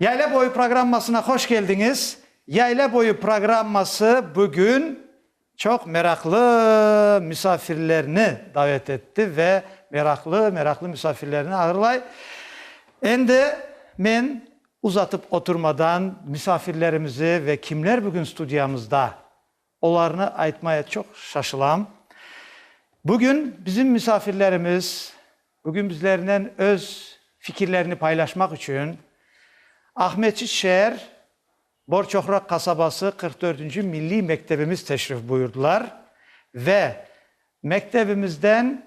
Yayla boyu programmasına hoş keldiñiz. Yayla boyu programması bugün çoq meraqlı müsafirlerni davet etti ve meraqlı-meraqlı müsafirlerni ağırlay. Endi men uzatıp oturmadan müsafirlerimizi ve kimler bugün studiyamızda Olarnı aytmaya çoq şaşılam. Bugün bizim misafirlerimiz, bugün bizlernen öz fikirlerini paylaşmaq içün Aqmescit şeer Borçoqraq qasabası qırq dördünci milliy mektebimiz teşrif buyurdılar ve mektebimizden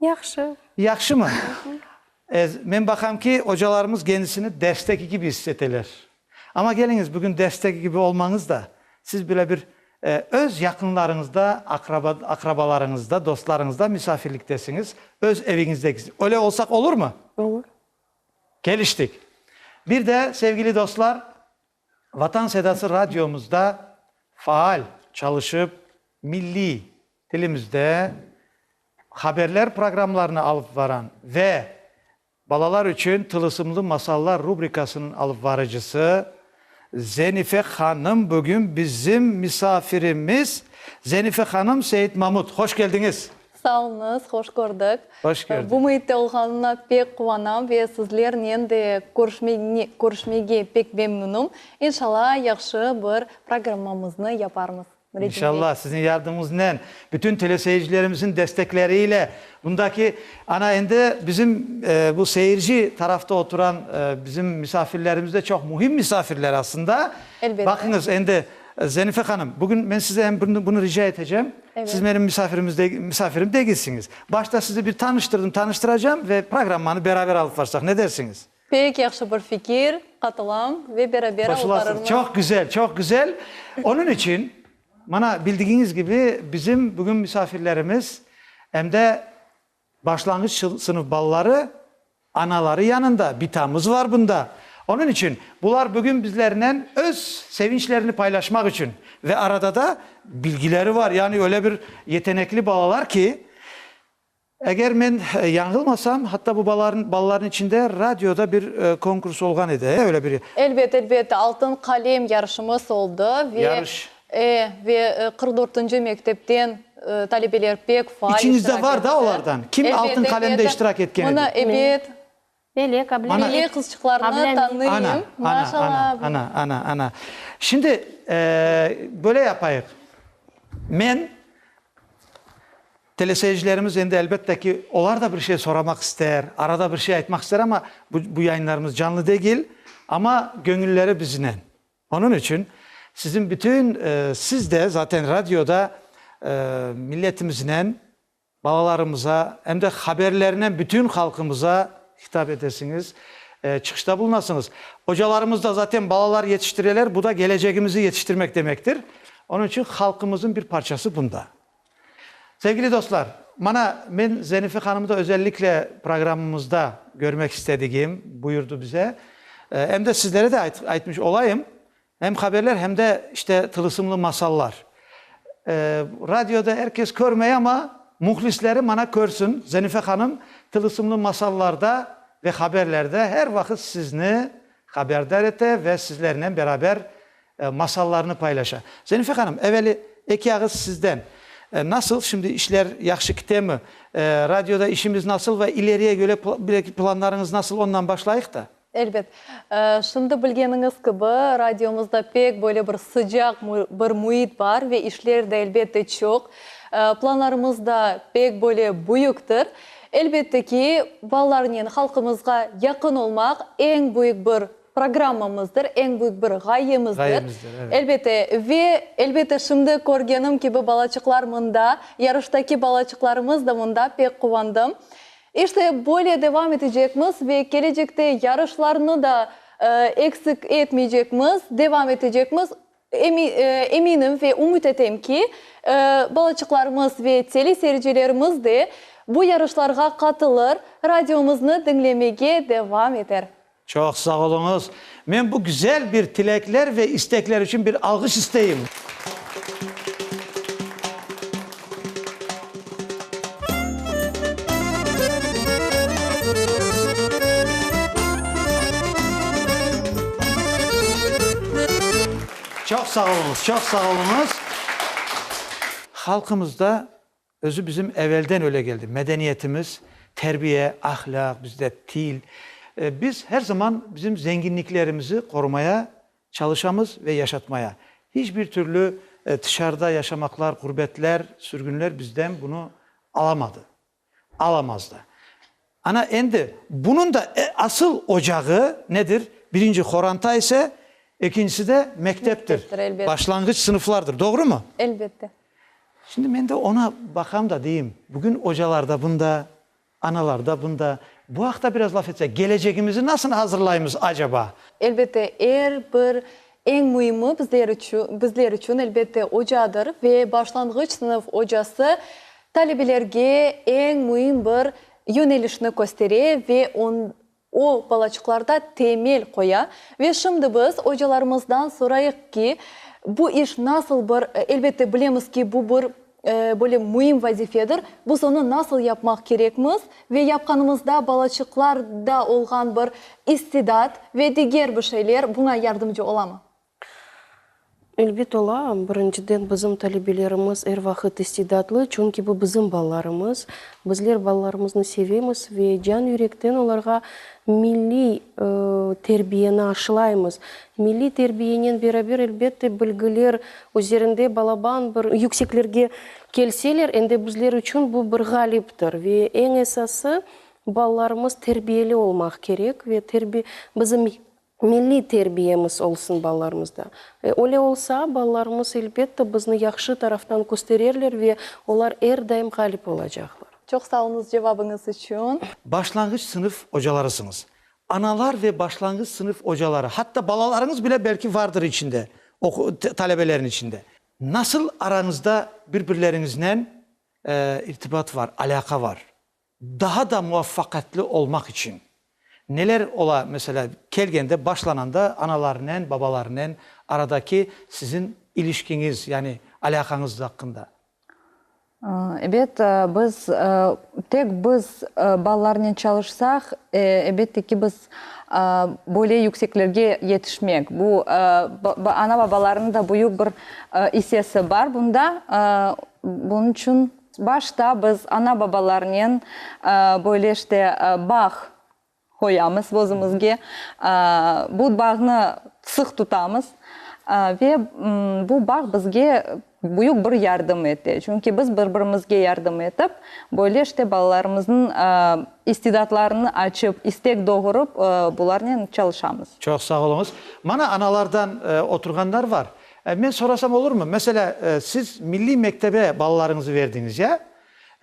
Yahşı. Yahşımı? E, men baqam ki, ocalarımız kendisini dersteki kibi is eteler. Amma keliñiz, bugün dersteki kibi olmañız da, siz bile bir e, öz yaqınlarıñızda, aqraba, aqrabalarıñızda, dostlarıñızda misafirliktesiñiz, öz eviñizdeki. Öyle olsaq olurmı? Olur. Keliştik. Bir de, sevgili dostlar, Vatan Sedası radiomızda faal çalışıp, milliy tilimizde haberler programlarını alıp varan ve Balalar içün tılısımlı masallar rubrikasınıñ alıp varıcısı Zenife hanım bugün bizim misafirimiz. Zenife hanım, Seit Mamut, hoş keldiñiz! Sağ olunız, hoş kördik. Hoş kördik. Bu müitte olğanımna pek quvanam ve sizlernen de körüşmege pek memnunım. İnşalla yahşı bir programmamıznı yaparmız. İnşalla, siziñ yardımıñıznen, bütün teleseyircilerimizin destekleriyle bundaki, ana endi bizim bu seyirci tarafta oturan bizim misafirlerimiz de çoq mühim misafirler aslında. Elbette. Baqıñız, endi Zenife hanım, bugün men size em bunu rica etecem. Siz menim misafirimiz degil, misafirim degilsiñiz. Başta sizni bir tanıştırdım, tanıştıracağım ve programmanı beraber alıp barsaq, ne dersiñiz? Pek yahşı bir fikir, qatılam ve beraber alıp Qoşulasız. barırmız. Çoq güzel, çoq güzel. Onıñ içün, mana, bildigiñiz kibi, bizim bugün misafirlerimiz, em de Başlanğıç sınıf balaları anaları yanında, bitamız var bunda. Onıñ içün bular bugün bizlernen öz sevinçlerini paylaşmaq içün ve arada da bilgileri var, yani öyle bir yetenekli balalar ki, eger men yañılmasam, hatta bu balalarnıñ içinde radioda bir konkurs olğan edi, öyle bir. Elbet, elbet, Altın qalem yarışımız oldı ve E, ve qırq dörtünci mektepten talebeler pek faal iştirak etti. İçiñizde bar da olardan? Kim Altın qalemde iştirak etken edi? Mına, ebet. Melek, ablam. Melek qızçıqlarnı tanıyım. Ana, ana, ana, ana, ana. Şimdi, böyle yapayıq. Men, teleseyircilerimiz endi elbette ki, olar da bir şey soramaq ister, arada bir şey aytmaq ister, amma bu yayınlarımız canlı degil, amma göñülleri biznen. Onıñ içün siziñ bütün, siz de zaten radioda milletimiznen, balalarımıza, em de haberlernen bütün halqımıza hitap etesiñiz, çıqışta bulunasıñız. Ocalarımız da zaten balalar yetiştireler, bu da gelecegimizi yetiştirmek demektir. Onıñ içün halqımızıñ bir parçası bunda. Sevgili dostlar, mana, men Zenife hanımı da özellikle programımızda görmek istedigim buyurdı bize. Em de sizlere de aytmış olayım, hem haberler, hem de işte tılısımlı masallar. Radioda er kes körmey, ama muhlisleri mana körsün, Zenife hanım tılısımlı masallarda ve haberlerde her vaqıt sizni haberdar ete ve sizlernen beraber masallarını paylaşa. Zenife hanım, eveli eki ağız sizden. Nasıl, şimdi işler yahşı kitemi? Radioda işimiz nasıl ve ileriye göre planlarıñız nasıl, ondan başlayıq da. Elbet. Şimdi bilgeniñiz kibi, radiomızda pek böyle bir sıcaq bir müit bar ve işler de elbette çoq. Planlarımız da pek böyle büyüktir. Elbette ki, balalarnen halqımızğa yaqın olmaq eñ büyük bir Programmamızdır, eñ büyük bir ğayemizdir. Ğayemizdir, evet. Elbette, ve, elbette, şimdi körgenim kibi balaçıqlar mında, yarıştaki balaçıqlarımız da mında, pek quvandım. İşte, böyle devam etecekmiz ve kelecekte yarışlarnı da eksik etmeycekmiz, devam etecekmiz. Emi, eminim ve ümüt etem ki, balaçıqlarımız ve teleseyircilerimiz de bu yarışlarğa qatılır, radiomıznı diñlemege devam eter. Çoq sağ oluñız. Men bu güzel bir tilekler ve istekler içün bir alğış isteyim. Çoq sağ oluñız, çoq sağ oluñız. Halqımızda Özü bizim evelden öyle geldi, medeniyetimiz, terbiye, ahlâq, bizde til. Biz her zaman bizim zenginliklerimizi qorumaya çalışamız ve yaşatmaya. Hiç bir türlü tışarıda yaşamaqlar, ğurbetler, sürgünler bizden bunı alamadı, alamaz da. Ana, endi bunıñ da asıl ocağı nedir? Birinci, qoranta ise, ekincisi de mekteptir, başlanğıç sınıflardır. Doğrumı? Elbette. Şimdi men de oña baqam da deyim, bugün ocalar da bunda, analar da bunda. Bu aqta biraz laf etsek, gelecegimizi nasıl azırlaymız acaba? Elbette, er bir Eñ müimi bizler içün, elbette, ocadır ve başlanğıç sınıf ocası talebelerge eñ müim bir yönelişni köstere ve o balaçıqlarda temel qoya. Ve şimdi biz ocalarımızdan sorayıq ki, bu iş nasıl bir, elbette, bilemiz ki, bu bir Böyle müim vazifedir. Biz onı nasıl yapmaq kerekmiz ve yapqanımızda balaçıqlarda olğan bir istidat ve diger bir şeyler buña yardımcı olamı? Elbet ola. Birinciden, bizim talebelerimiz er vaqıt istidatlı, çünki bu bizim balalarımız. Bizler balalarımıznı sevemiz ve can-yürekten olarğa milliy terbiyeni aşılaymız. Milliy terbiyenen beraber, elbette, bilgiler Özlerinde balaban bir yükseklerge kelseler, endi bizler içün bu bir ğaliptir. Ve eñ esası, balalarımız terbiyeli olmaq kerek ve terbi, bizim milliy terbiyemiz olsun balalarımızda. E, öyle olsa, balalarımız, elbette, bizni yahşı taraftan köstererler ve olar er daim ğalip olacaqlar. Çoq sağ oluñız cevabıñız içün. Başlanğıç sınıf ocalarısıñız. Analar ve başlanğıç sınıf ocaları, hatta balalarıñız bile belki vardır içinde, talebelerin içinde. Nasıl arañızda bir-birleriñiznen irtibat var, alâqa var? Daha da muvaffaqiyatlı olmaq içün neler ola, meselâ, kelgende, başlananda analarnen, babalarnen aradaki siziñ ilişkiñiz, yani alâqañız aqqında? Ebet, biz, tek biz balalarnen çalışsaq, ebette ki, biz böyle yükseklerge yetişmek. Bu, ana-babalarnıñ da büyük bir issesi bar bunda. Bunıñ içün başta biz ana-babalarnen böyle işte bağ. qoyamız özümizge, bu bağnı sıq tutamız ve bu bağ bizge büyük bir yardım ete. Çünki biz bir-birimizge yardım etip, böyle işte balalarımıznıñ istidatlarını açıp, istek doğurıp, bularnen çalışamız. Çoq sağ oluñız. Mana analardan oturğanlar bar. Men sorasam olurmı? Meselâ, siz milliy mektebe balalarıñızı berdiñiz, ya?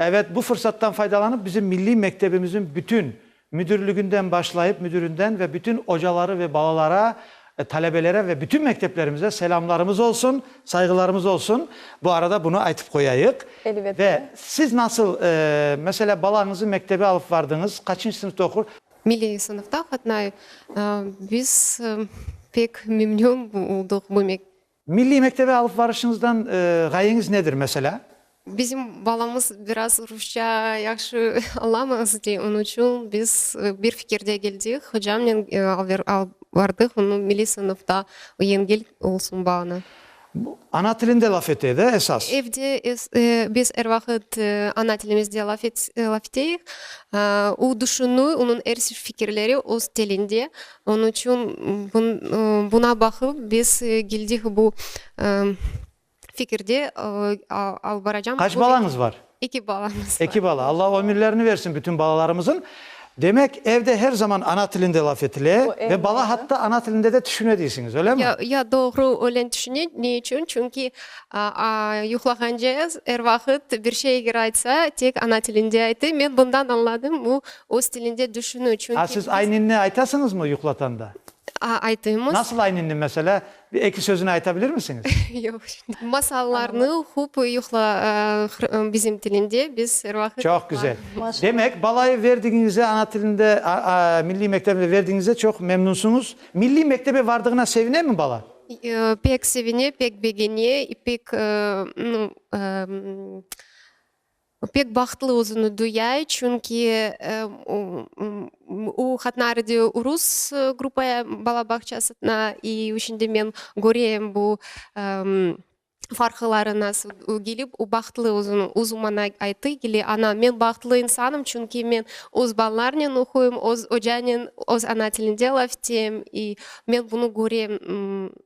Ebet, bu fırsattan faydalanıp bizim milliy mektebimizin bütün, müdürliginden başlayıp müdürinden ve bütün ocaları ve balalara, talebelere ve bütün mekteplerimize selamlarımız olsun, sayğılarımız olsun. Bu arada bunu aytıp qoyayıq. Elbette. Ve siz nasıl, mesela balañızı mektebe alıp vardıñız, qaçıncı sınıfta oqur? Milliy sınıfta qatnay. Biz pek memnün oldıq bu. Milliy mektebe alıp barışıñızdan ğayeñiz nedir, meselâ? Bizim balamız biraz rusça yahşı añlamaz, dey, onı içün biz bir fikirge keldik, hocamnen alıp bardıq onı milliy sınıfta, yengil olsun bağnı. Ana tilinde laf etedi, esas? Evde biz er vaqıt ana tilimizde laf eteyik, o, düşünü, onıñ er fikirleri öz tilinde, Onıñ içün buna baqıp, biz keldik bu fikirge, alıp baracağım. Qaç balañız bar? Eki balamız bar. Eki bala. Alla ömürlerini bersin bütün balalarımızın. Demek, evde her zaman ana tilinde laf etile ve bala hatta ana tilinde de tüşüne deysiñiz, öylemi? Ya, ya, doğru, öyle tüşüne. Ne içün? Çünki yuqlağance er vaqıt bir şey eger aytsa, tek ana tilinde aytı. Men bundan añladım, bu Öz tilinde düşünü içün Ha, siz ayninni aytasıñızmı yuqlatanda? A, aytıymız. Nasıl ayninni, meselâ, bir eki sözüni ayta bilirmisiñiz? Yoq, şimdi. Masallarnı oqup yuqla, aa, bizim tilinde biz er vaqıt. Çoq güzel. Demek, balayı verdigiñizde, ana tilinde, aa, milliy mektebinde verdigiñizde çoq memnunsuñız. Milliy mektebe vardığına sevinemi bala? Yoo, pek sevine, pek begene, pek, aa, nu, aa, O pek bahtlı özüni duyay, çünki o Hatnarıde rus gruppa bala bağçasına i şün de men köreyim bu farqları nasıl kelip, o bahtlı özüni özü mana ayttı ki, ana men bahtlı insanım, çünki men öz balalarnen oquyım, öz ocanen, öz ana tilinde laf eteyim i men bunı köreyim.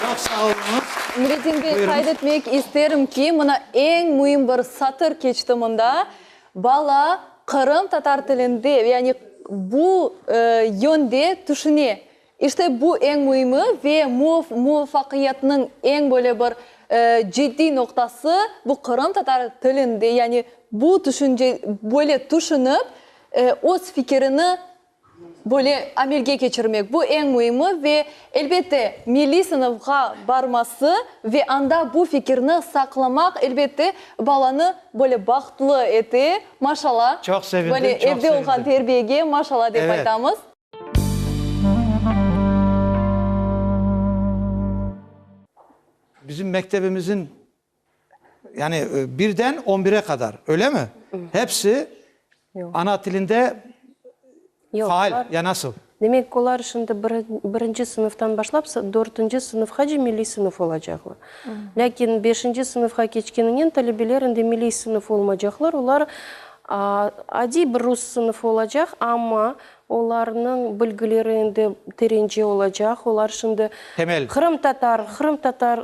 Çoq sağ oluñız. Nuretdin bey, qayd etmek isterim ki, mına eñ müim bir satır keçti mında, bala Qırım tatar tilinde, yani bu yönde tüşüne. İşte bu eñ müimi ve muvafaqiyatnıñ eñ böyle bir ciddiy noqtası, bu Qırım tatar tilinde, yani bu tüşünce, böyle tüşünip, öz fikirini Böyle amelge keçirmek, bu eñ müimi ve, elbette, milliy sınıfğa barması ve anda bu fikirni saqlamaq, elbette, balanı böyle bahtlı ete, maşalla. Çoq sevindim, çoq sevindim. Böyle evde olğan terbiyege maşalla dep aytamız. Bizim mektebimizin Yani birden on bire qadar, öyle mi? Hepsi ana tilinde faal ya nasıl? Demek, olar şimdi birinci sınıftan başlap dörtünci sınıfqace milliy sınıf olacaqlar. Lâkin beşinci sınıfqa keçkeninen talebeler endi milliy sınıf olmaycaqlar, olar adiy bir rus sınıfı olacaq, amma Olarnıñ bilgileri endi terence olacaq. Olar şimdi qırımtatar, qırımtatar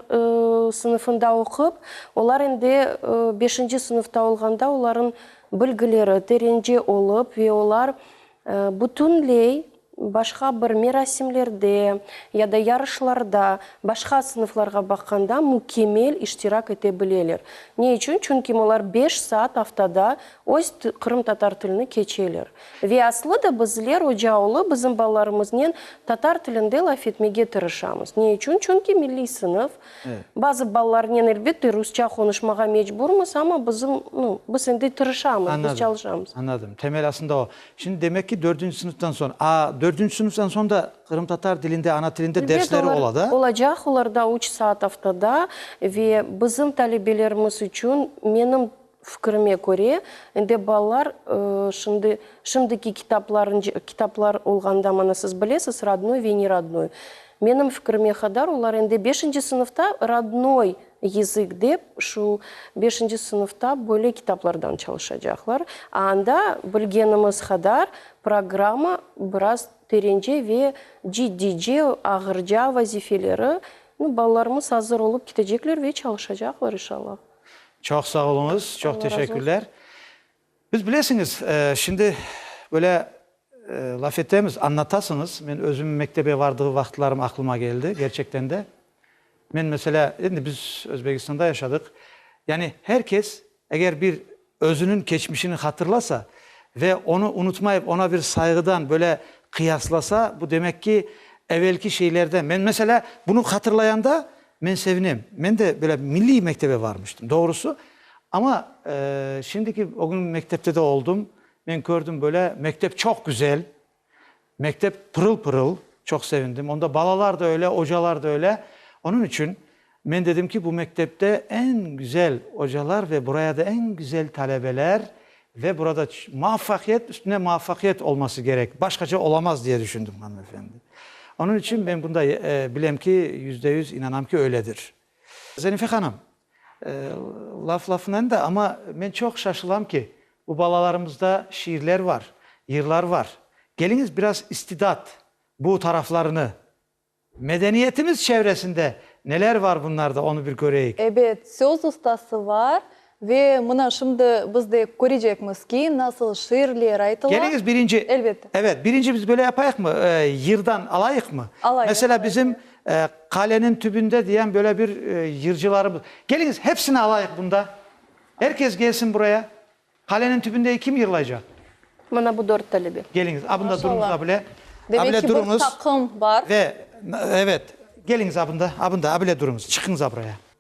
sınıfında oqup, olar endi beşinci sınıfta olğanda olarnıñ bilgileri terence olıp ve olar bütünley başqa bir merasimlerde ya da yarışlarda başqa sınıflarğa baqqanda mükemmel iştirak ete bileler. Ne içün? Çünki olar beş saat aftada öz qırımtatar tilini keçeler. Ve aslı da bizler, ocaoğlu, bizim balalarımıznen tatar tilinde laf etmege tırışamız. Ne içün? Çünki milliy sınıf. Bazı balalarnen, elbette, rusça qonuşmağa mecburmız, amma bizim, nu, biz endi tırışamız, biz çalışamız. Añladım. Temel asında o. Şimdi, demek ki, dördünci sınıftan soñ. A dördünci sınıftan soñ da qırımtatar tilinde, ana tilinde dersleri ola da? Olacaq, olarda üç saat aftada. Ve bizim talebelerimiz içün, menim Fikirime köre, ende balalar şimdi, şimdiki kitaplarınca, kitaplar olğanda, mana siz bilesiz, rodnoy ve nerodnoy. Menim fikirime qadar olar ende beşinci sınıfta rodnoy yızık dep şu beşinci sınıfta böyle kitaplardan çalışacaqlar. A anda bilgenimiz qadar programma biraz terence ve ciddice, ağırca vazifeleri, nu, balalarımız azır olıp ketecekler ve çalışacaqlar, inşallah. Çoq sağ oluñız, çoq teşekkürler. Biz bilesiñiz, şimdi böyle laf etemiz, anlatasıñız, men özüm mektebe bardığı vaqıtlarım aqlıma keldi, kerçekten de. Men meselâ, endi biz Özbekistanda yaşadıq, yani her kes eger bir Özüniñ keçmişini hatırlasa ve onı unutmayıp, oña bir sayğıdan böyle qıyaslasa, bu demek ki, evelki şeylerden, men, meselâ, bunı hatırlayanda men sevinem. Men de böyle milliy mektebe varmıştım, doğrusu. Amma, şimdiki, o gün mektepte de oldım, men kördim böyle, mektep çoq güzel, Mektep pırıl-pırıl, çoq sevindim. Onda balalar da öyle, ocalar da öyle. Onıñ içün men dedim ki, bu mektepte eñ güzel ocalar ve buraya da eñ güzel talebeler ve burada muvafaqiyet üstüne muvafaqiyet olması kerek, başqaça olamaz diye düşündim, hanımefendi. Onıñ içün men bunda bilem ki, yüzde yüz inanam ki, öyledir. Zarife hanım, Laf lafınen da, amma men çoq şaşılam ki, bu balalarımızda şiirler var, yırlar var. Keliñiz biraz istidat, bu taraflarını, medeniyetimiz çevresinde neler var bunlarda, onı bir köreyik. Ebet, söz ustası var ve mına şimdi biz de körecekmiz ki, nasıl şiirler aytıla. Keliñiz birinci, Elbette. evet, birinci biz böyle yapayıqmı, yırdan alayıqmı? Alayıq, alayıq. Mesela bizim Qalenin tübünde diyen böyle bir yırcılarımız. Keliñiz, hepsini alayıq bunda. Er kes kelsin buraya. Qalenin tübünde kim yırlaycaq? Mına bu dört talebe. Keliñiz, a bunda duruñız, a bile. Demek ki, bir taqım bar. Ve, evet, keliñiz, a bunda, a bunda, a bile duruñız. Çıqıñız, a buraya.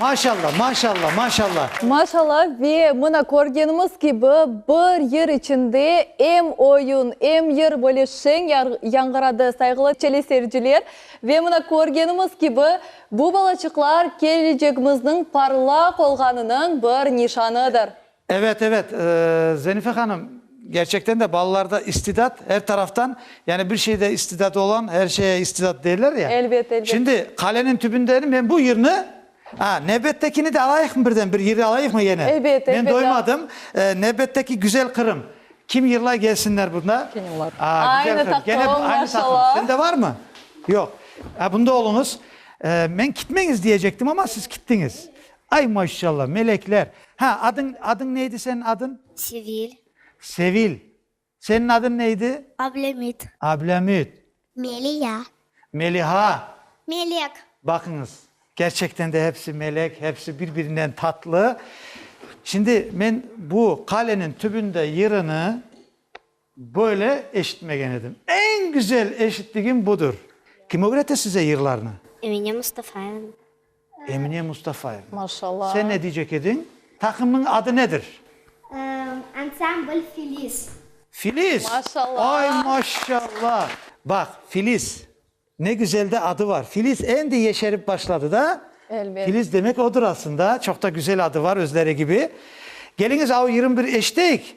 Maşalla, maşalla, maşalla. Maşalla ve mına körgenimiz kibi bir yır içinde em oyun, em yır böyle şeñ yañğıradı sayğılı teleseyirciler. Ve mına körgenimiz kibi bu balaçıqlar kelecegimizniñ parlaq olğanınıñ bir nişanıdır. Ebet, ebet, Zenife hanım, kerçekten de balalarda istidat er taraftan, yani bir şeyde istidadı olan er şeye istidat deyler ya. Elbet, elbet. Şimdi qalenin tübündenim, men bu yırnı, a, nevbettekini de alayıqmı birden, bir yırı alayıqmı yene? Elbet, elbet. Men doymadım, nevbetteki Güzel Qırım, kim yırlay gelsinler bunda. Kene olar. A, Güzel Qırım. Aynı taqım, maşallah. Sende varmı? Yoq. A, bunda oluñız. Men kitmeñiz diyecektim ama siz kittiñiz. Ay maşşalla, melekler! Ha, adıñ, adıñ neydi senin adın? Sevil. Sevil. Senin adın neydi? Ablemüt. Ablemüt. Meliha. Meliha. Melek. Baqıñız, kerçekten de hepsi melek, hepsi bir-birinden tatlı. Şimdi men bu qalenin tübünde yırını. Böyle eşitmegen edim. Eñ güzel eşittigim budır. Kim ögrete size yırlarnı? Emine Mustafaevna. Emine Mustafaevna. Maşallah. Sen ne diycek ediñ? Taqımnıñ adı nedir? Ansambl Filiz. Filiz? Maşallah. Ay, maşallah. Baq, Filiz, ne güzel de adı var. Filiz endi yeşerip başladı da. Elbet. Filiz demek odur aslında. Çoq da güzel adı var, özleri kibi. Keliñiz, au yirmi bir eşiteyik.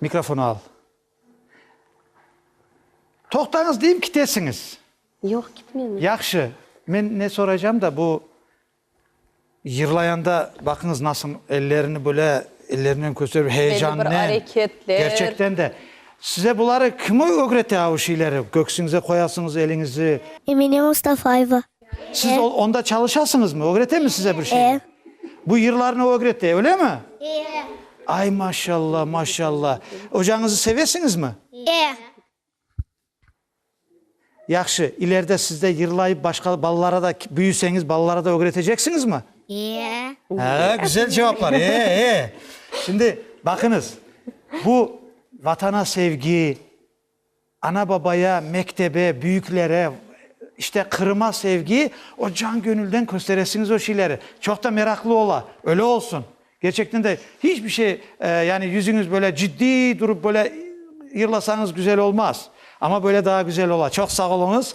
Mikrofon al. Toqtañız deyim, kitesiñiz. Yoq, kitmemiz. Yahşı, men ne soraycam da, bu yırlayanda baqıñız nasıl ellerini böyle ellerinen kösterip, heyecannen, kerçekten de. Size buları kim ögrete, avu şeyleri? Köksüñize qoyasıñız eliñizi. Emine Mustafayeva. Siz onda çalışasıñızmı? Ögretemi size bir şeyni? Bu yırlarnı ögrete, öylemi? Ay, maşalla, maşalla. Ocañızı sevesiñizmi? Yahşı, ileride sizde yırlayıp başqa balalara da, büyüseñiz, balalara da ögreteceksiñizmi? Hâ, güzel cevaplar. E, e. Şimdi, baqıñız, bu Vatana sevgi, Ana-babaya, mektebe, büyüklere, işte, Qırıma sevgi, o can-köñülden kösteresiñiz o şeyleri. Çoq da meraqlı ola. Öyle olsun. Gerçekten de, hiç bir şey, yani yüzüñiz böyle ciddiy durup, böyle yırlasañız güzel olmaz. Amma böyle daa güzel ola. Çoq sağ oluñız.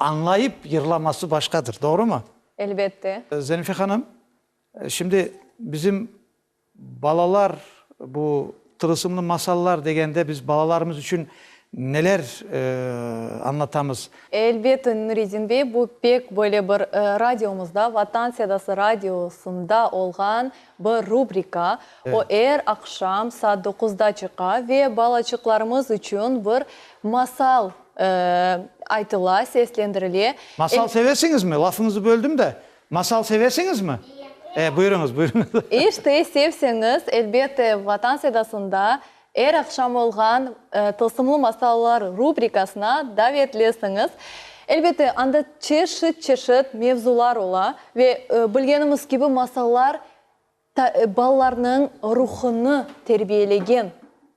Añlayıp yırlaması başqadır, doğrumı? Elbette. Zenife hanım, şimdi bizim balalar bu tılısımlı masallar degende biz balalarımız içün neler añlatamız? Elbette, Nuretdin bey, bu pek böyle bir radiomızda, Vatan Sedası Radiosında olğan bir rubrika. O er aqşam saat doquzda çıqa ve balaçıqlarımız içün bir masal Aytıla, seslendirile. Masal sevesiñizmi? Lafıñızı böldim de. Masal sevesiñizmi? E, buyurıñız, buyurıñız. İşte, sevseñiz, elbette, Vatan Sedasında er aqşam olğan Tılsımlı masallar rubrikasına davetlisiñiz. Elbette, anda çeşit-çeşit mevzular ola ve, bilgenimiz kibi, masallar balalarnıñ ruhunı terbiyelegen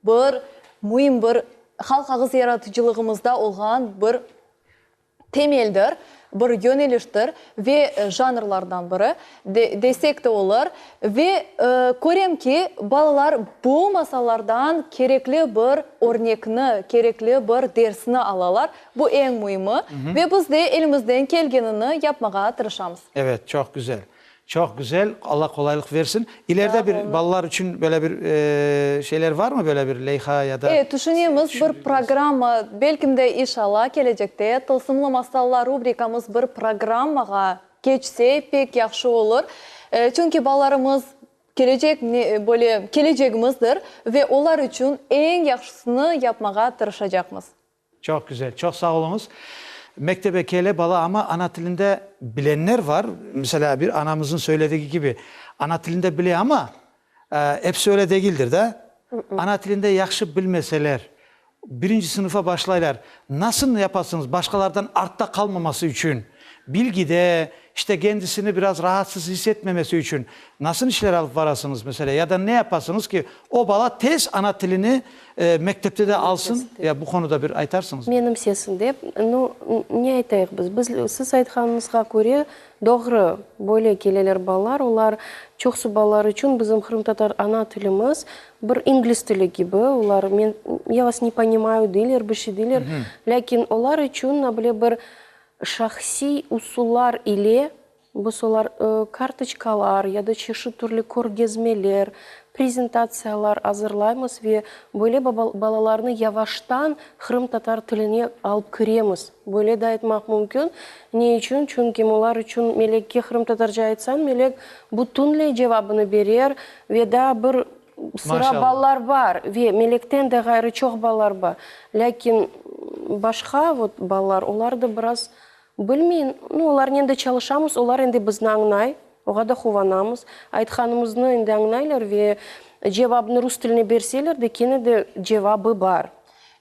bir müim bir halq ağız yaratıcılığımızda olğan bir temeldir, bir yöneliştir ve janrlardan biri desek de olur. Ve körem ki, balalar bu masallardan kerekli bir örnekni, kerekli bir dersni alalar, bu eñ müimi ve biz de elimizden kelgenini yapmağa tırışamız. Evet, çoq güzel. Çoq güzel, Alla qolaylıq versin. İleride bir balalar içün böyle bir şeyler varmı, böyle bir leyha ya da? E, tüşünemiz, bir programma, belkim de, işalla, kelecekte Tılsımlı masallar rubrikamız bir programmağa keçse, pek yahşı olur. Çünki balalarımız kelecek, böyle, kelecegimizdir ve olar içün eñ yahşısını yapmağa tırışacaqmız. Çoq güzel, çoq sağ oluñız. Mektebe kele bala, amma ana tilinde bilenler var. Meselâ, bir anamızın söyledigi kibi, ana tilinde bile, amma episi öyle degildir da. Ana tilinde yahşı bilmeseler, birinci sınıfa başlaylar. Nasıl yapasıñız, başqalardan artta qalmaması içün, bilgide, işte, kendisini biraz rahatsız his etmemesi içün nasıl işler alıp barasıñız, meselâ, ya da ne yapasıñız ki, o bala tez ana tilini Mektepte de alsın, ya bu qonuda bir aytarsıñızmı? Menim sesim dep, nu, ne aytayıq biz? Biz, siz aytqanıñızğa köre, doğru, böyle keleler balalar, olar, çoqsu balalar içün bizim qırımtatar ana tilimiz bir ingliz tili kibi, olar, men, ya vas ne ponimayu deyler, bir şey deyler, lâkin olar içün, nabile, bir şahsiy usullar ile Bu solar, kartoçkalar ya da çeşit türlü körgezmeler, prezentatsiyalar azırlaymız ve böyle balalarnı yavaştan qırımtatar tiline alıp kiremiz. Böyle de aytmaq mümkün. Ne içün? Çünki olar içün Melekke qırımtatarca aytsañ, Melek bütünley cevabını berer ve daa bir sıra balalar bar ve Melekten de ğayrı çoq balalar bar. Lâkin başqa balalar, olar da biraz Bilmeyim. Nu, olarnen de çalışamız, olar endi bizni añlay, oğa da quvanamız. Aytqanımıznı endi añlaylar ve cevabnı rus tiline berseler de, kene de cevabı bar.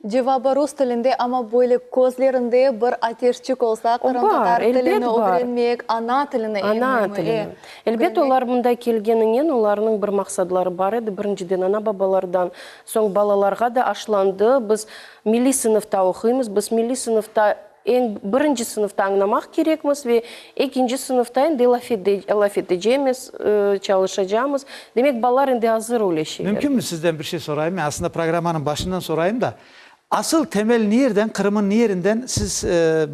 Cevabı rus tilinde, amma böyle közlerinde bir ateşçik olsa, qırımtatar tilini ögrenmek, ana tilini, eñ müimi. Ana tilini. Elbet, olar mında kelgeninen, olarnıñ bir maqsadları bar edi, birinciden, ana-babalardan, soñ balalarğa da aşlandı, biz milliy sınıfta oquymız, biz milliy sınıfta Eñ birinci sınıfta añlamaq kerekmiz ve ekinci sınıfta endi laf etecemiz, çalışacamız. Demek, balalar endi azır öyle şeylerge. Mümkünmi sizden bir şey sorayım? Men aslında programmanıñ başından sorayım da, asıl temel nierden, Qırım'ın nierinden? Siz,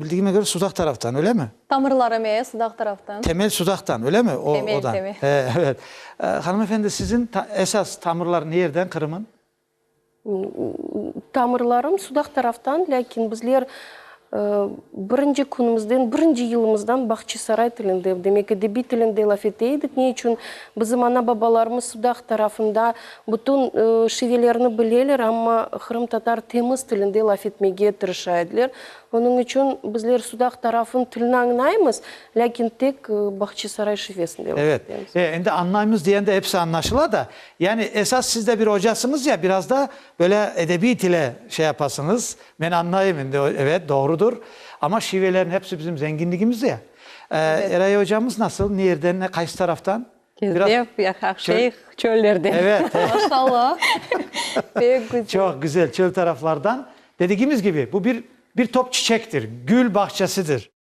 bildigime köre, Sudaq taraftan, öylemi? Tamırlarım, e, Sudaq taraftan. Temel Sudaqtan, öylemi? O, odan. Temel, temel. Eee, evet. Hanımefendi, sizin esas tamırlar nierden, Qırım'ın? Tamırlarım sudaq taraftan, lâkin bizler birinci künümizden, birinci yılımızdan Bağçasaray tilinde, demek edebiy tilinde laf ete edik. Ne içün? Bizim ana-babalarımız sudaq tarafında bütün şivelerni bileler, amma qırımtatar temiz tilinde laf etmege tırışa ediler. Onıñ içün bizler sudaq tarafın tilini añlaymız, lâkin tek Bağçasaray şivesinde laf etemiz. Evet, endi añlaymız degende episi añlaşıla da, Yani esas siz de bir ocasıñız ya, biraz da böyle edebiy tile şey yapasıñız. Men añlayım endi, evet, doğrudur. Amma şivelerin hepsi bizim zenginligimiz ya. Ee, Eray ocamız nasıl, ne yerden, ne qaysı taraftan? Biraz Kezdef, ya Haqşeyh, çöllerden. Evet. Maşalla. Pek güzel. Çoq güzel, çöl taraflardan. Dedigimiz kibi, bu bir bir top çiçektir, gül bahçesidir.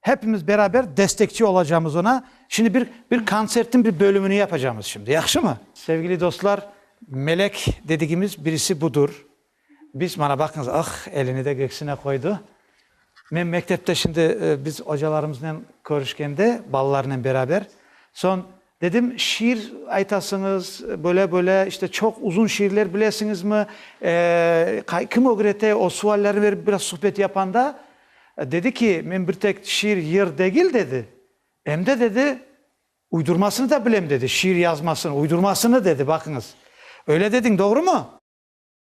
Hepimiz beraber destekçi olacağımız ona. Şimdi bir, bir kontsertniñ bir bölümini yapacağımız şimdi, yahşımı? Sevgili dostlar, melek dedigimiz birisi budur. Biz, mana baqıñız, ah, elini de göksüne qoydu. Men mektepte şimdi biz ocalarımıznen körüşkende, balalarnen beraber, soñ Dedim, şiir aytasıñız, böyle-böyle, işte, çoq uzun şiirler bilesiñizmi, eee, kim ögrete, o suallerni berip biraz suhbet yapanda, dedi ki, men bir tek şiir yır degil, dedi, em de, dedi, uydurmasını da bilem, dedi, şiir yazmasını, uydurmasını, dedi, baqıñız, öyle dediñ, doğrumu?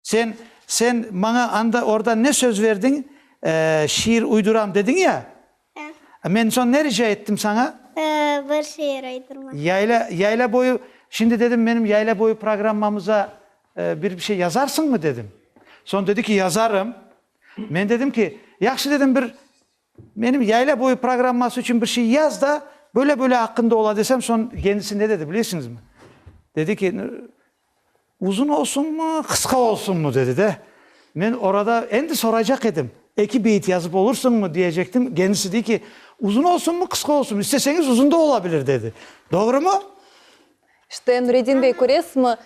Sen, sen maña anda, orda ne söz verdiñ? Şiir uyduram dediñ ya? Hı. Men soñ ne rica ettim saña? Bir şiir uydurma. Yayla, yayla boyu, şimdi dedim, menim yayla boyu programmamıza bir bir şey yazarsıñmı dedim. Soñ dedi ki, yazarım. Men dedim ki, yahşı dedim, bir. Menim yayla boyu programması içün bir şey yaz da, böyle-böyle aqqında ola desem, soñ kendisi ne dedi bilesiñizmi? Dedi ki, uzun olsunmı, qısqa olsunmı? dedi de, men orada endi soraycaq edim, eki beyit yazıp olursıñmı diyecektim, kendisi dey ki, uzun olsunmı, qısqa olsunmı, isteseñiz uzun da olabilir, dedi. Doğrumı? İşte, Nureddin bey, köresizmi,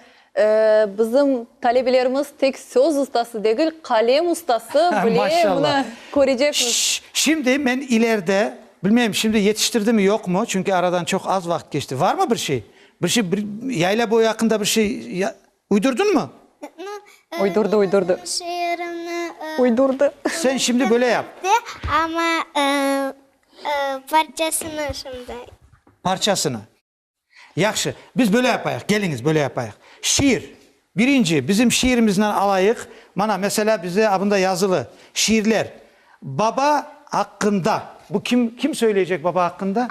bizim talebelerimiz tek söz ustası degil, qalem ustası bile, mına, köreceksiz. Şş, şimdi men ileride, bilmeyim, şimdi yetiştirdimi, yoqmı, çünki aradan çoq az vaqıt keçti, varmı bir şey? Bir şey, bir Yayla boyu aqqında bir şey uydurdunmı? Uydurdı, uydurdı. Şiirini uydurdı. Sen şimdi böyle yap. Amma parçasını şimdi. Parçasını. Yahşı, biz böyle yapayıq, keliñiz, böyle yapayıq. Şiir. Birinci, bizim şiirimizden alayıq. Mana, meselâ, bizde abında yazılı, şiirler. Baba aqqında. Bu kim, kim söyleycek baba aqqında?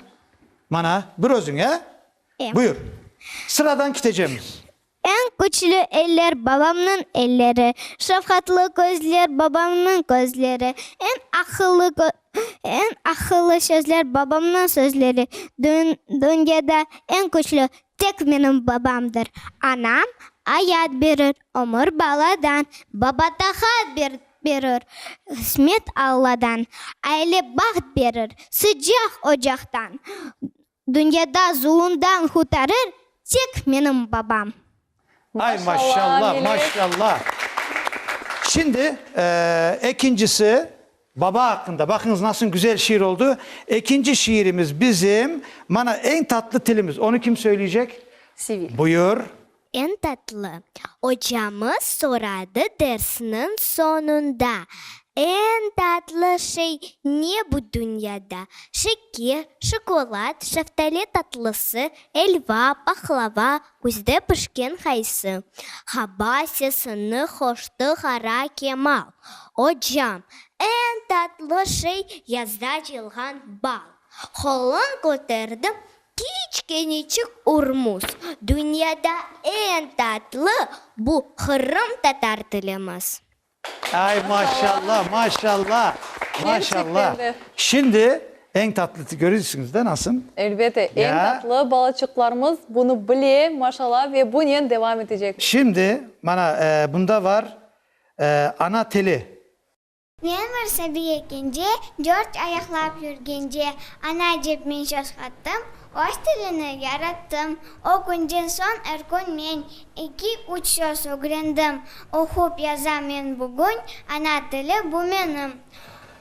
Mana, bir özüñ, e? Buyur. Sıradan kitecemiz. Eñ küçlü eller, babamnıñ elleri, şefqatlı közler, babamnıñ közleri, eñ aqıllı eñ aqıllı sözler, babamnıñ sözleri, dünyada eñ küçlü tek menim babamdır. Anam ayat berir, ömür baladan, baba taqat berir, qısmet Alladan, aile baht berir, sıcaq ocaqtan. Dünyada zulumdan qurtarır tek menim babam. Ay maşalla maşalla. Şimdi ekincisi baba aqqında. Baqıñız nasıl güzel şiir oldu. Ekinci şiirimiz bizim mana eñ tatlı tilimiz. Onı kim söyleycek? Sevil. Buyur. En tatlı, ocamız soradı dersniñ soñunda, en tatlı şey ne bu dünyada? Şeke, şokolat, şeftali tatlısı, elva, pahlava, küzde pişken qaysı. Haba, sesini hoştı Qara Kemal. Ocam, en tatlı şey yazda cılğan bal. Qolun köterdi, Kiçkenicik Urmuz, dünyada eñ tatlı bu Qırım tatar tilimiz. Ay maşallah, maşallah, maşallah. Şimdi eñ tatlı til, görürsüñiz de nasıl? Elbette, eñ tatlı balaçıqlarımız bunı bile, maşallah, ve bunen devam etecekler. Şimdi, mana, bunda var, ana tili. Men bir sabiy ekence, dört ayaqlap yürgence, ana dep men şaşqattım, öz tilini yarattım. O künden soñ er kün men eki, üç söz ögrendim. Oqup yazam men bugün, ana tili bu menim.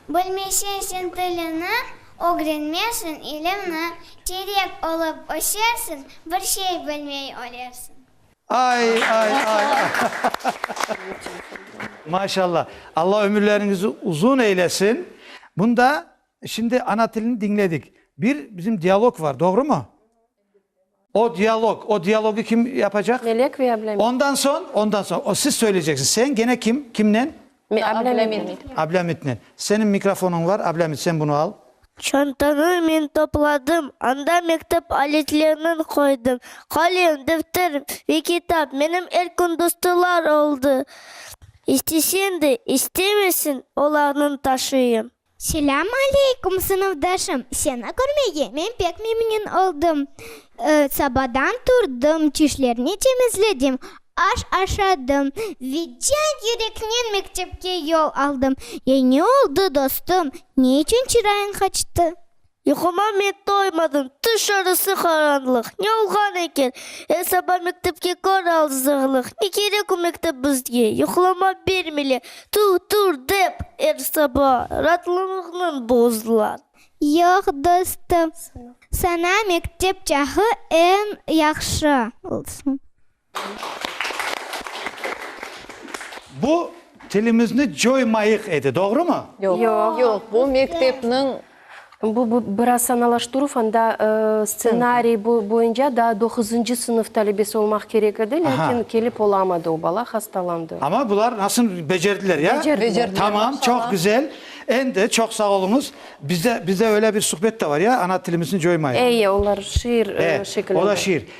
Bilmesen sen tilini, ögrenmersiñ ilimni, terek olıp ösersiñ, bir şey bilmey ölersiñ. Ay, ay, ay, maşalla, Alla ömürleriñizi uzun eylesin. Bunda, şimdi ana tilini diñledik, bir bizim dialog var, doğrumı? O dialog, o dialogı kim yapacaq? Melek ve Ablamet. Ondan soñ, ondan soñ, o siz söyleyeceksiz, sen gene kim, kimnen? Ablâmitnen. Senin mikrofonıñ var, Ablâmit, sen bunı al. Çantanı men topladım, anda mektep aletlernin qoydım, qalem, defter ve kitap menim er kün dostlar oldı. İstesen de, istemesen, olarnın taşıyım. Selâm aleyküm, sınıfdaşım! Seni körmege men pek memnün oldım. Sabadan turdım, çişlerni temizledim, aş aşadım, vidyat yüreknen mektepke yol aldım. Ya ne oldı, dostum? Ne içün çırayıñ qaçtı? Yuquma men toymadım, tüş arası qaranlıq, Ne olğan eken? Er saba mektepke kör alzırlıq, Ne kerek o mektep bizge, yuqlama bermile, Tur, tur dep, er saba ratlığıñnıñ bozdılar. Yoq, dostum, sana mektep çağı eñ yahşı olsun. Bu, tilimizni coymayıq edi, doğrumı? Yoq, bu mektepniñ. Bu, bu biraz sanalaştıruv, anda stsenariy boyunca daa doquzıncı sınıf talebesi olmaq kerek edi, lâkin kelip olamadı o bala, hastalandı. Amma bular nasıl becerdiler, ya? Becerdiler. Tamam, çoq güzel. Endi çoq sağ oluñız. Bizde, bizde öyle bir suhbet de var, ya, ana tilimizni coymayıq. Eye, onlar şiir şekilinde. O da şiir.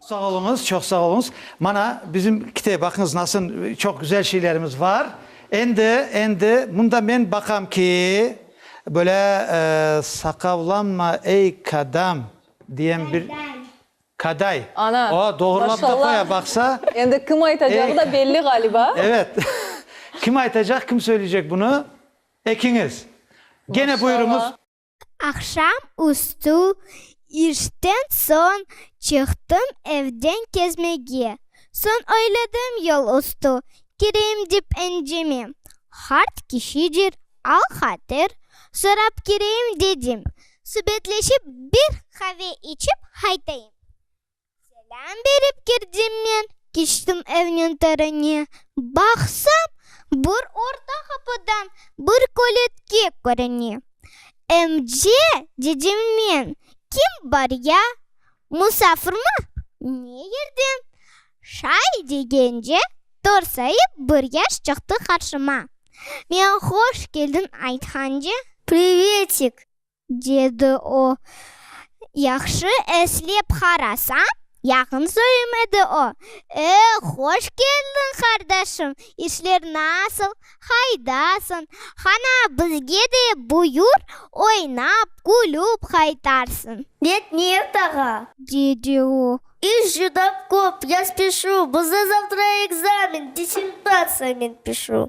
Sağ oluñız, çoq sağ oluñız. Mana, bizim kite, baqıñız, nasıl çoq güzel şeylerimiz bar. Endi, endi, mında men baqam ki, böyle, saqavlanma, ey kadam, diyen bir kaday. Ana, maşallah. O, doğrulap da qoya, baqsa. Endi kim aytacağı da belli ğaliba. Evet. Kim aytacaq, kim söyleycek bunı? Ekiñiz. Gene buyurıñız. Aqşam üstü işten soñ çıqtım evden kezmege. Soñ oyladım yol üstü kireyim dep encime. Qart kişidir, al-hatir sorap kireyim dedim. Subetleşip bir qave içip qaytayım. Selâm berip kirdim men, keçtim evniñ törüne. Baqsam, bir orta qapıdan bir köletke körüne. Emce, dedim men, kim bar ya? Musafirmi? Ne yerden? Şay degence, torsayıp bir yaş çıqtı qarşıma. Men hoş keldin aytqance. Privetik! dedi o. Yahşı eslep qarasam, yaqın soyum edi o. E, hoş keldiñ, qardaşım! İşler nasıl? Qaydasıñ? Qana, bizge de buyur, oynap, külüp qaytarsıñ. Net, Niyet ağa! dedi o. İş cuda köp, yaz pişu, bizde zavtra ekzamen, dissertatsiya, men pişu.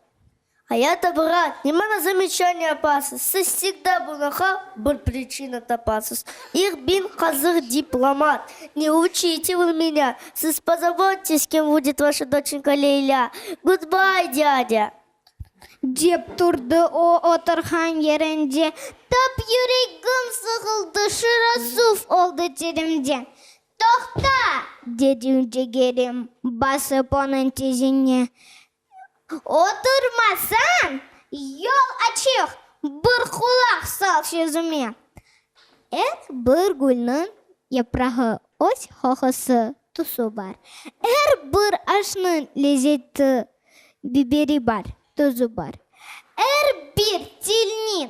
Ayata brat, ne mana zamechaniye yapasız? Siz sigda bunaqa bir priçina tapasız. İh bin qazıq diplomat. Ne uçite vır menya. Siz pozabottes, kim vudet vaşa doçenka Leylâ. Gudbay, dâdâ! Dep turdı o oturğan yerinde. Tap yüregim sığıldı, şura suv oldı terimde. Toqta! dedi ünce Kerim, basıp onıñ tizine. Oturmasañ, yol açıq, bir qulaq sal sözüme. Er bir gülniñ yaprağı öz hohusı, tusı bar, Er bir aşnıñ lezzeti, biberi bar, tuzu bar, Er bir tilniñ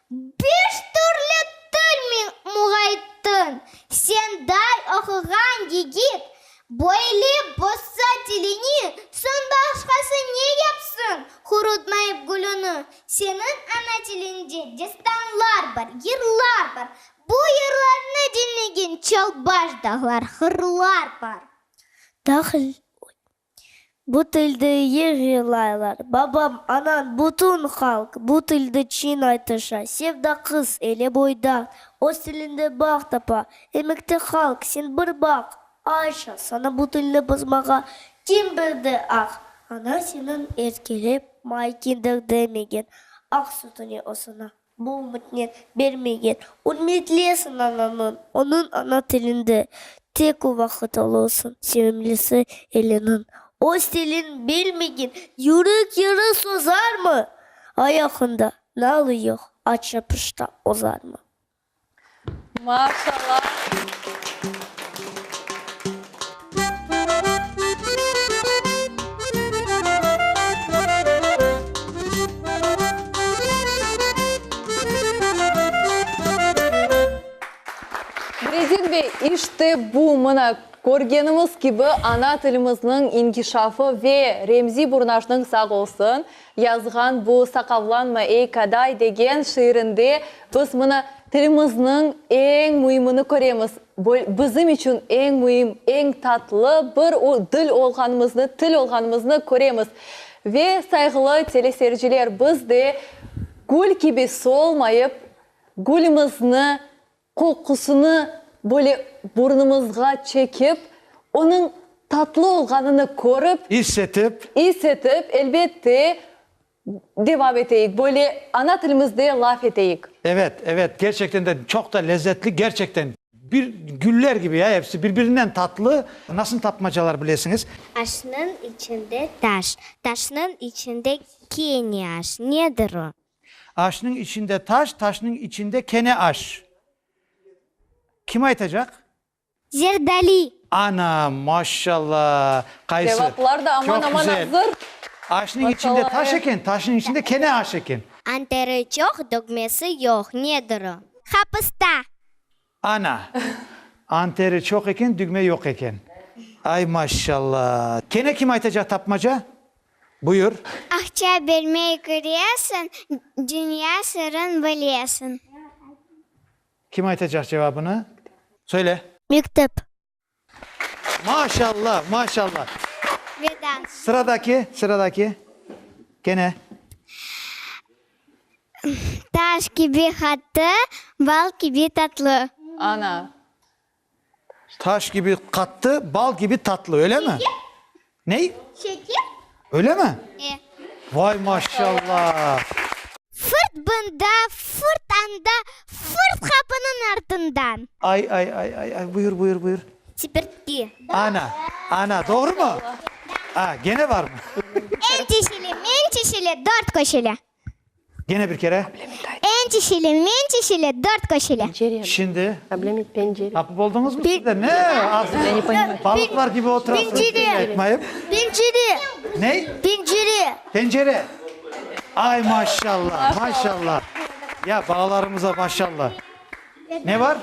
Beş türlü til min muğayttın, senday oquğan yigit, böyle bozsa tilini, soñ başqası ne yapsın, qurutmayıp gülüni? Seniñ ana tiliñde destanlar bar, yırlar bar, bu yırlarnı diñlegen çalbaş dağlar, hırlar bar. Dağ, oy. Bu tildi yır yırlaylar, babam, anan, bütün halq bu tildi çiñ aytışa. Sevda qız, ele boyda, öz tilinde bağ tapa. Emekte halq, sen bir baq, Ayşa, sana bu tilni bozmağa kim berdi, ax? Ana seniñ erkelep, may kindir demegen, aq sütüni osuna. Bu ümitni bermegen. Ürmetli esin ananıñ. Onıñ ana tilinde. Tek o vaqıt olursuñ. Sevimlisi eliniñ. Öz tilin bilmegen. Yürek yarı sozarmı? Ayağında nalı yoq. Aç yapışta ozarmı? Brezil bey, işte bu, mına, körgenimiz kibi, ana tilimizniñ inkişafı ve Remzi Burnajnıñ sağ olsun, Yazğan bu Saqavlanma, ey Kaday! degen şiirinde biz mına tilimizniñ eñ müimini köremiz, bizim içün eñ müim, eñ tatlı bir dil olğanımıznı, til olğanımıznı köremiz. Ve, sayğılı teleseyirciler, biz de gül kibi solmayıp, gülümizni Qoqusını böyle burnumızğa çekip, onıñ tatlı olğanını körip. İs etip. İs etip, elbette, devam eteyik, böyle ana tilimizde laf eteyik. Evet, evet, gerçekten de çoq da lezzetli, gerçekten. Bir güller kibi ya episi, birbirinden tatlı. Nasıl tapmacalar bilesiñiz? Aşnıñ içinde taş, taşnıñ içinde keniaş, nedir o? Aşnıñ içinde taş, taşnıñ içinde kene aş. Kim aytacaq? Zerdali. Ana, maşşalla! Qaysı? Cevaplar da aman-aman azır. Aşnıñ içinde taş eken, taşnıñ içinde kene aş eken. Anteri çoq, dögmesi yoq. Nedir o? Hapısta. Ana! Anteri çoq eken, dügme yoq eken. Ay, maşşalla! Kene kim aytacaq tapmaca? Buyur. Aqça bermey köresiñ, dünya sırın bilesiñ. Kim aytacaq cevabını? Söyle. Mektep. Maşalla, maşalla. Sıradaki, sıradaki. Kene. Taş kibi qattı, bal kibi tatlı. Ana. Taş kibi qattı, bal kibi tatlı, öyle mi? Ney? Şeker. Öyle mi? E. Vay maşallah. Fırt bında, fırt anda, fırt qapınıñ artından. Ay, ay, ay, ay, ay, buyur, buyur, buyur. Çipirtki. Ana, ana, doğru mu? A, gene var mı? El çeşili, mel çeşili, dört köşeli. Gene bir kere. Eñ çişili, meñ çişili, dört köşili. Şimdi. Tapıp oldıñızmı siz de? Ne? Ağzınıza balıqlar kibi oturasıñız. Pinciri. Ney? Pinciri. Pencere. Ay, maşallah, maşallah. Ya, balalarımıza maşallah. Ne bar?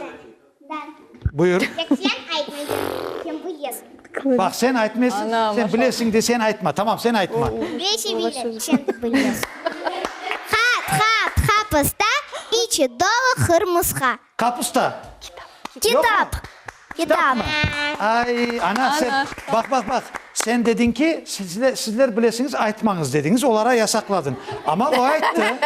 Buyur. Tek sen aytmaysan, sen bilesiñ. Baq, sen aytmaysiñ, sen bilesiñ de sen aytma. Tamam, sen aytma. Beşi bilip, sen bilmesiñ. Ha, tha, tha pısta, içi dolu hırmısqa. Kapusta. Kitap. Kitap. Kitapmı? Ay, ana, sen, baq, baq, baq. Sen dediñ ki, sizler bilesiñiz, aytmañız dediñiz, olara yasaqladıñ. Amma o ayttı,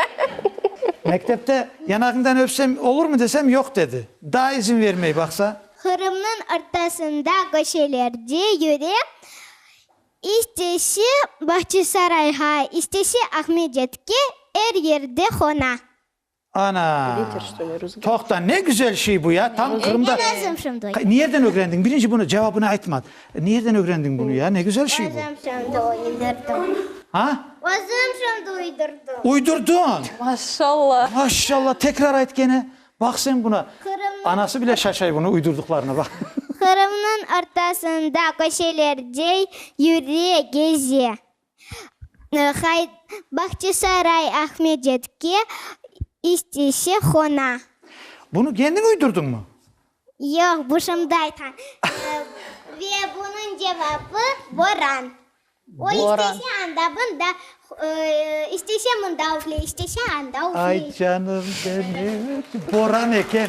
mektepte yanağıñdan öpsem olurmı desem, yoq dedi. Daa izin bermey, baqsa. Qırımnıñ ortasında köşelerde yüre, istese Bağçasarayğa, istese Aqmedetke, er yerde qona. Ana! Toqta, ne güzel şey bu ya, tam Qırımda. Ögrengen özüm şimdi. Nerden ögrendiñ? Birinci bunı cevabını aytma. Nerden ögrendiñ bunu ya? Ne güzel şey bu. Özüm şimdi uydurdım. Ha? Özüm şimdi uydurdım. Uydurdın. Maşalla. Maşalla, tekrar ayt gene. Baq sen buna. Qırımnıñ. Anası bile şaşay bunu uydurdıqlarına baq. Qırımnıñ ortasında köşelerde yüre, geze. Bahçesaray, Ahmedetke, istese hona. Bunı kendiñ üydürdiñmi? Yoq, bu şımdı aytqan. Ve bunıñ cevabı, boran. O istese anda, bunda, istese mında üfley, istese anda üfley. Ay, canım benim, boran eken.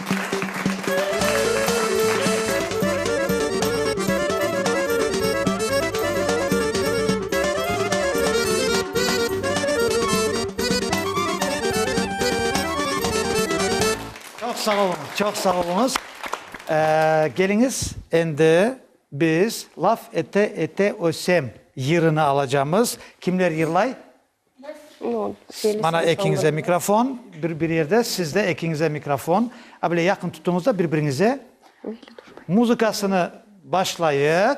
Çoq sağ oluñız, çoq sağ oluñız. Keliñiz, endi biz Laf ete-ete ösem yırını alacamız. Kimler yırlay? Bana ekiñize mikrofon, bir bir yerde, sizde ekiñize mikrofon. A, böyle yaqın tutuñız da bir-biriñize. Muzıkasını başlayıq.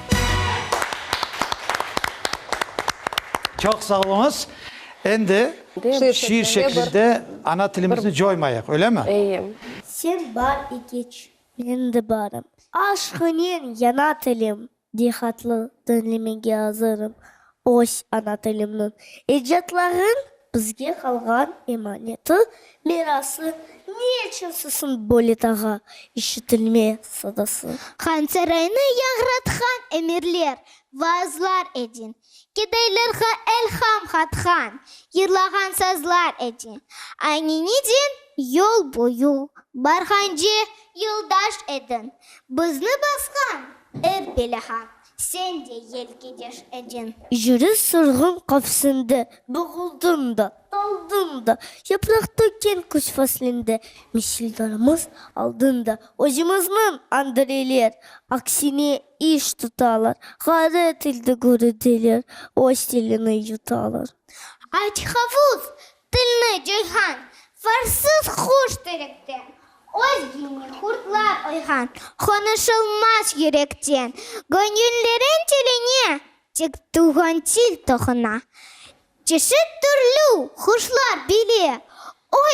Çoq sağ oluñız. Endi şiir şeklinde ana tilimizni coymayıq, öylemi? Eye. Sen bar ekeç. Men de barım. Aşqınen yana tilim. Diyhatlı, diñlemege azırım. Öz ana tilimniñ ecatlarınıñ bizge qalğan emaneti, mirası, ne içün sısın böyle tağa işitilme sadası? Hanserayni yañratqan emirler, vaazlar edin, gedaylarğa elham qatqan yırlağan sazlar edin, ayneniden yol boyu barğance yoldaş edin, bizni basqan er belağa Sen de yelkedeş ediñ. Jüri surğun qafsinde. Boğuldım da, daldım da. Yapraq tökken küz faslinde. Misildarımız aldında. Özümizniñ Andreyler. Aksine iş tutalar. Ğayret ilde göredeler. Öz tilini yutalar. Ayt, Havuz, Tilni cıyğan, farsız quş tilekten, Öz gilni qurtlar oyğan, qonuşılmaz yürekten. Göñüllerin tiline tek tuvğan til toquna, Çeşit türlü quşlar bile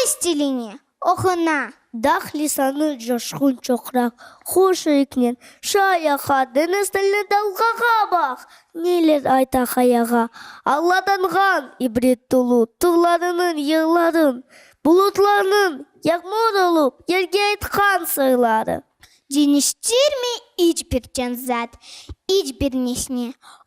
öz tilini Oquna, daq lisanı coşqun çoqraq, huş üyüknen, şu ayaqa, deñiz tilli dalğağa baq! Neyler ayta qayağa, alladanğan, ibret tolu, tuvlarınıñ yırların, bulutlarnıñ, yağmur olup, yerge aytqan sırları. Deñiştirmey iç bir can zat, iç bir nesne,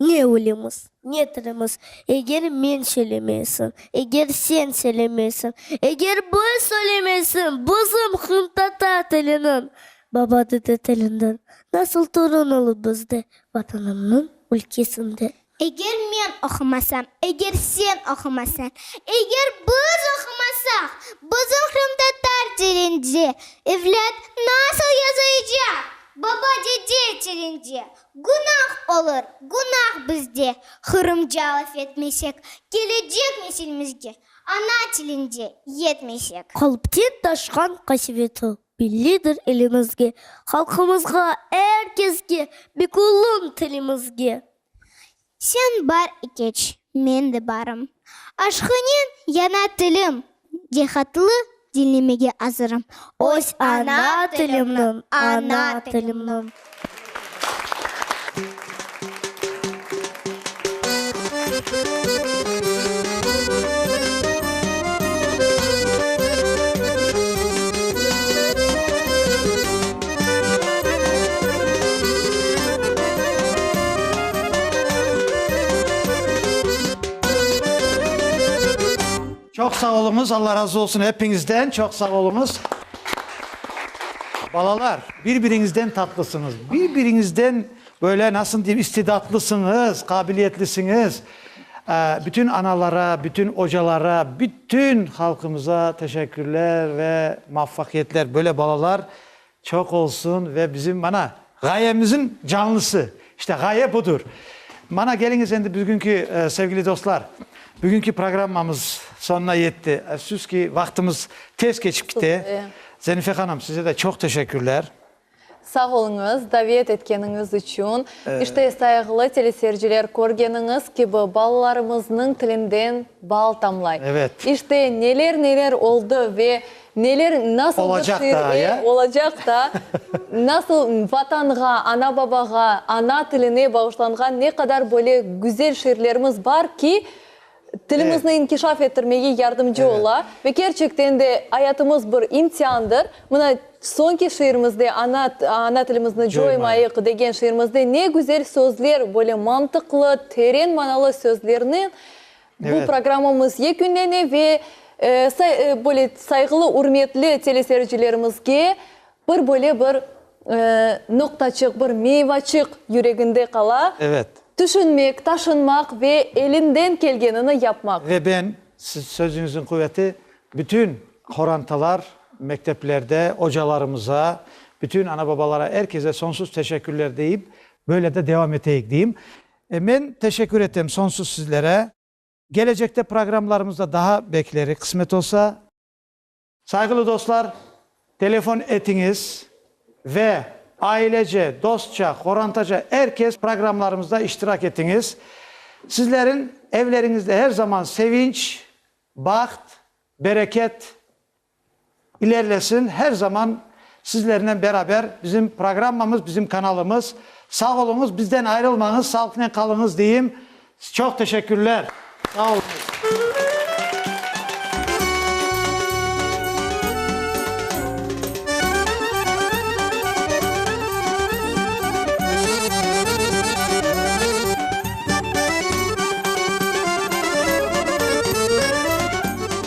Ne ölemiz, ne tirimiz, eger men söylemeysim, eger sen söylemeysin, eger biz söylemeysim bizim qımtatar tiliniñ, baba dede tilinden nasıl torun olur bizde, Vatanımnıñ ülkesinde? Eger men oqumasam, eger sen oqumasan, eger biz oqumasaq bizim qımtatar tilinde, evlât nasıl yazıycaq baba dede tilinde, Günah olur, günah bizde, Qırımca laf etmesek, Kelecek nesilimizge ana tilinde yetmesek. Qalpten taşqan qasiveti Bellidir elimizge, Halqımızğa, er keske, Bek olun tilimizge. Sen bar ikeç, men de barım. Aşqınen yana tilim, dehatlı diñlemege azırım. Öz ana tilimniñ, ana tilimniñ. Çoq sağ oluñız, Alla razı olsun epiñizden, çoq sağ oluñız. Balalar, bir-biriñizden tatlısıñız, bir-biriñizden böyle nasıl diyim, istidatlısıñız, qabiliyetlisiñiz. Bütün analara, bütün ocalara, bütün halqımıza teşekkürler ve muvaffaqiyetler, böyle balalar. Çoq olsun ve bizim mana ğayemizin canlısı. İşte ğaye budur. Mana keliñiz endi bugünki sevgili dostlar, bugünki programmamız sonuna yetti. Efsus ki, vaqtımız tez keçip kite. Zenife hanım, size de çoq teşekkürler. Sağ oluñız, davet etkeniñiz içün. İşte, sayğılı teleseyirciler, körgeniñiz kibi, balalarımıznıñ tilinden bal tamlay. İşte, neler-neler oldı ve Neler nasıl bir Olacaq şiir, daa, ey, ya? olacaq daa. Nasıl Vatanğa, ana-babağa, ana tiline bağışlanğan ne qadar böyle güzel şiirlerimiz bar ki, Evet. tilimizni inkişaf ettirmege yardımcı Evet. ola. Ve kerçekten de ayatımız bir imtiandır. Mına soñki şiirimizde, Ana, ana tilimizni coymayıq, degen şiirimizde ne güzel sözler, böyle mantıqlı, teren manalı sözlernen Bu programmamız yekünlene ve böyle sayğılı, ürmetli teleseyircilerimizge bir böyle bir noqtaçıq, bir meyvaçıq yüreginde qala, tüşünmek, taşınmaq ve elinden kelgenini yapmaq. Ve ben, siz sözüñizin quveti, bütün qorantalar, mekteplerde ocalarımıza, bütün ana-babalara, er keze sonsuz teşekkürler deyip, böyle de devam eteyik deyim. E, men teşekkür etem sonsuz sizlere. Gelecekte programlarımızda daha beklerik, qısmet olsa. Sayğılı dostlar, telefon etiñiz ve ailece, dostça, qorantaca er kes programlarımızda iştirak etiñiz. Sizlerin evleriñizde her zaman sevinç, baht, bereket, İlerlesin her zaman sizlernen beraber bizim programmamız bizim kanalımız sağ oluñız bizden ayrılmañız sağlıqnen qalıñız deyim çoq teşekkürler sağ oluñız.